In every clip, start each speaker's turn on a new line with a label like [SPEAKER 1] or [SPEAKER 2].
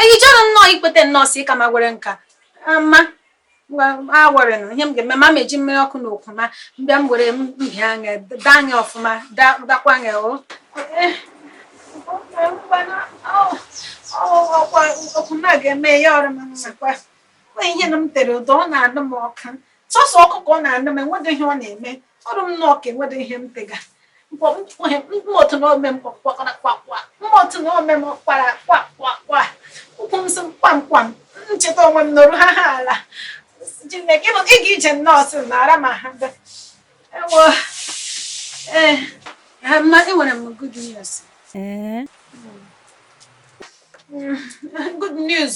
[SPEAKER 1] Eyi chọrọ nnọọ ikweta nnọọ si ịka ma gwere nka ma awere na ihe m ga-eme ma meji mmiri ọkụ na ụkwụ m a mbịa m were mbịa anya daa anya ọfụma dakwa anya o ụkwụ m a ga-eme ya ọrụ m nakwa ihe na m tere ude ọ na-anụ m ọkụ sọsọ ọkụ ka ọ na-anụ m enweghị ihe ọ na-eme ọrụ m nnọọ ka enwedị ihe m pega mkpọtụ na ome mkpọkwara kwakwa mkpọtụ na ome m kwara kwakwakwa ụkwụ m sị kwamkwam ncheta onwe m nọrụ ha ha ala Chineke ịga ije nnọọ sị na ara ma ha bịa ewo ee eh, mma enwere m good news ee eh? Good news.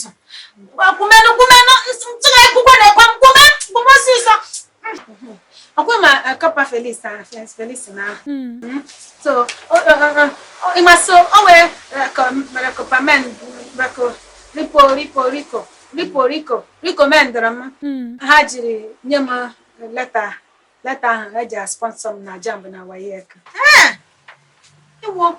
[SPEAKER 1] Kwumenu kwumenu ntụgharị akwụkwọ na-ekwe m kwume kwume ọsịsọ. Ọkwa ma Corper Felix na Felix na. So ịma so o wee mere kọpa men mekọ ripo ripo riko ripo riko recommendọrọ m. Ha jiri nye m leta leta ahụ eji asponsor m na JAMB na WAEC. Ewo.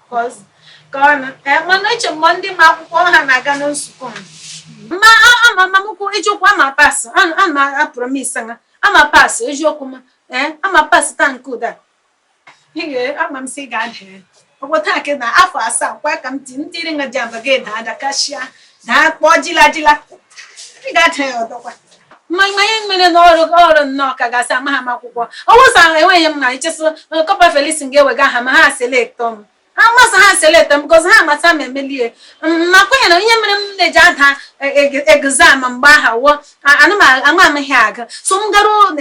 [SPEAKER 1] mana eche m ọ ndị ma akwụkwọ ha na-aga na nzukọ ma mama ukwu eziokwu ama pass ama apromisa ha ama pass eziokwu ma ee ama pass taa nke ụda ama m si ga-ada ọ wụ taa ka na afọ asaa kwa ka m ti ntiri nga JAMB a ga-ada ada kachia daa kpọọ jila jila ị ga-ada ya ọdọkwa mmanya ihe mere na ọrụ ọrụ nnọọ ka gị sị amaha m akwụkwọ ọ wụ sị enweghị m na i che sị Corper Felix ga-ewega ha ma ha select m ha mmasị ha select m because ha amata ma emelie ma kwenye na ihe mere m na-eji ada exam mgbe ahụ wụ ama m ihe aga so m garuo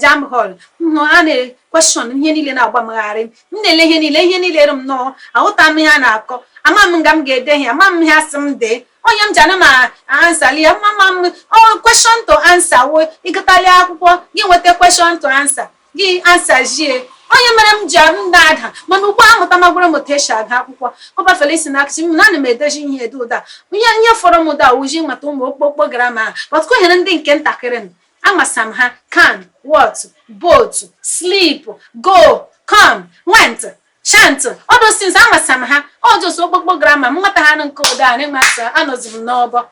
[SPEAKER 1] JAMB hall hụ a na question ihe niile na-agbamgharị m na-ele ihe niile ihe niile rụ m nọọ ahụta m ihe a na-akọ ama m nga m ga-ede ihe ama m ihe asị m dee ọ ya m ji ana m answerli ya mama m ọ question to answer wo ịgụtali akwụkwọ gị nweta question to answer gị answerzie ọ ya mere m ji m na-ada mana ugbu a amụtamagwara m otu esi agụ akwụkwọ Corper Felix na-acoachi m na ana m edezi ihe ede ụda ihe ihe fọrọ m ụda wụ ịmata ụmụ okpokpo grama but ka ọ hara ndị nke ntakịrị m Amasa m ha, can, what, boat, sleep, go, come, went, chant, all those things amasa m ha. Ọ just okpokpo grama m mata ha nụ nke ụda a na-enwasa anọzi m n'ọbọ.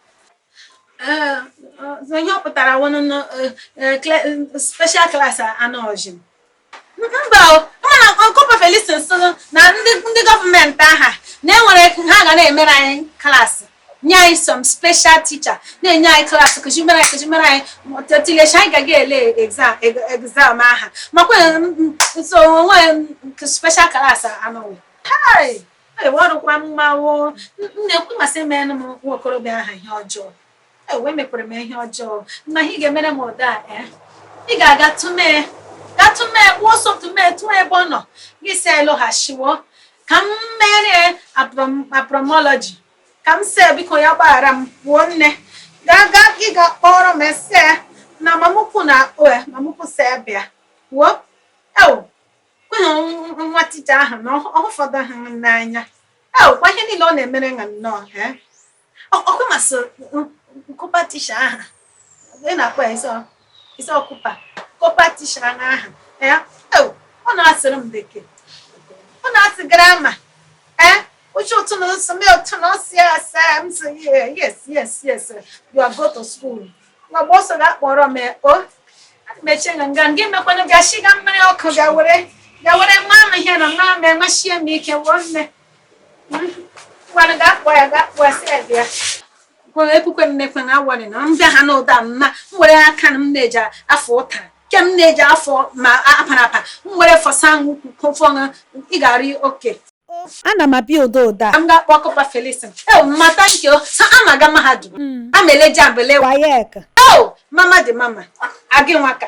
[SPEAKER 1] Eh, eh, ihe ọ pụtara wụ nụ special class anọzi m. mba mana kọpa Felison sịrị na ndị gọọmenti aha na e were ha ga na-emere anyị klaasị nye anyị some special teacher na-enye anyị klaasị kụzimere anyị kụzimere anyị tetilecha anyị gaga ele exam e, exam aha makwa nso onwe special klaasị anọghị ọrụkwa mmanwụ na-ekwu masị menụ m nwa okorobịa aha ihe ọjọọ emekwere m ihe ọjọọ na ị ga-emere m ụda a eh? ị ga-aga tụmee ga tụmee gbuo ọsọ tụmee tụọ ebe ọ nọ gị sị e lọghachiwo ka m mere apromology ka m see biko ya gbaghara m gbuo nne gaa gaa gị ga kpọrọ m e see na mamukwu na-akpọ e, mamukwu sị bịa wuo ewo kweghị nwa tija ahụ na ọ fọdụ ha n'anya ewo kwa ihe niile ọ na-emere ha nnọọ eh? ọkụ masị kọpa tisha aha ị na-akpọ ya ị sị ọ kọpa kọpa tisha aha ọ na-asụrụ m bekee ọ na-asụ grama ee uche ụtụ na nsọ mee ụtụ na ọsị ya asa m sị yes yes yes you are go to school nwa mgbe ọ sọ ga akpọrọ m o mechie nga nga gị mekwana ga shiga mmiri ọkụ ga were ga were nwa m ihe nọ na ama enwechie m ike wụọ nne Ngwanụ gaa kpọọ ya gaa kpọọ ya sị ya bịa. Kwere ekwukwe m mekwe na awọrị na m bịa ha n'ụda m ma m were aka na m na-eji afọ ụtara nke m na-eji afọ ma apara apa m were fọsa ahụ ukwu kụfọ ṅụ ị ga-arị okay ana m
[SPEAKER 2] abịa odo odo a ka m gaa kpọọ
[SPEAKER 1] kọpa felisin e mata nke o sa a na-aga mahadum a ma eleji abele WAEC o
[SPEAKER 2] mama
[SPEAKER 1] dị mama agị nwaka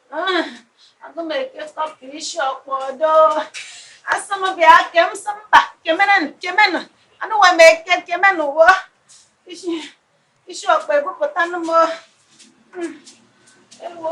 [SPEAKER 1] Aga m eke kọpụ isi ọkpọ ọdọ. Asị m bịa ke m sị mba kemenụ kemenụ anụwa m eke kemenụ wo isi isi ọkpọ ebupụtanụ m Hmm. ewo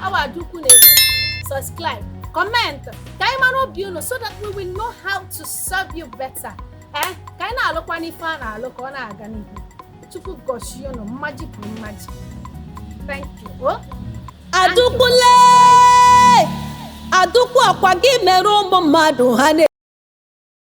[SPEAKER 1] Our Adukwu Nation, subscribe, comment, ka anyị mara obi unu so that we will know how to serve you better. Eh, ka anyị na-alụkwa n'ife a na-alụ ka ọ na-aga n'ihu. Chukwu gọzie unu mmaji kwuru mmaji. Thank you.
[SPEAKER 2] Oh. Adukwule! Adukwu ọkwa gị mere ụmụ mmadụ ha na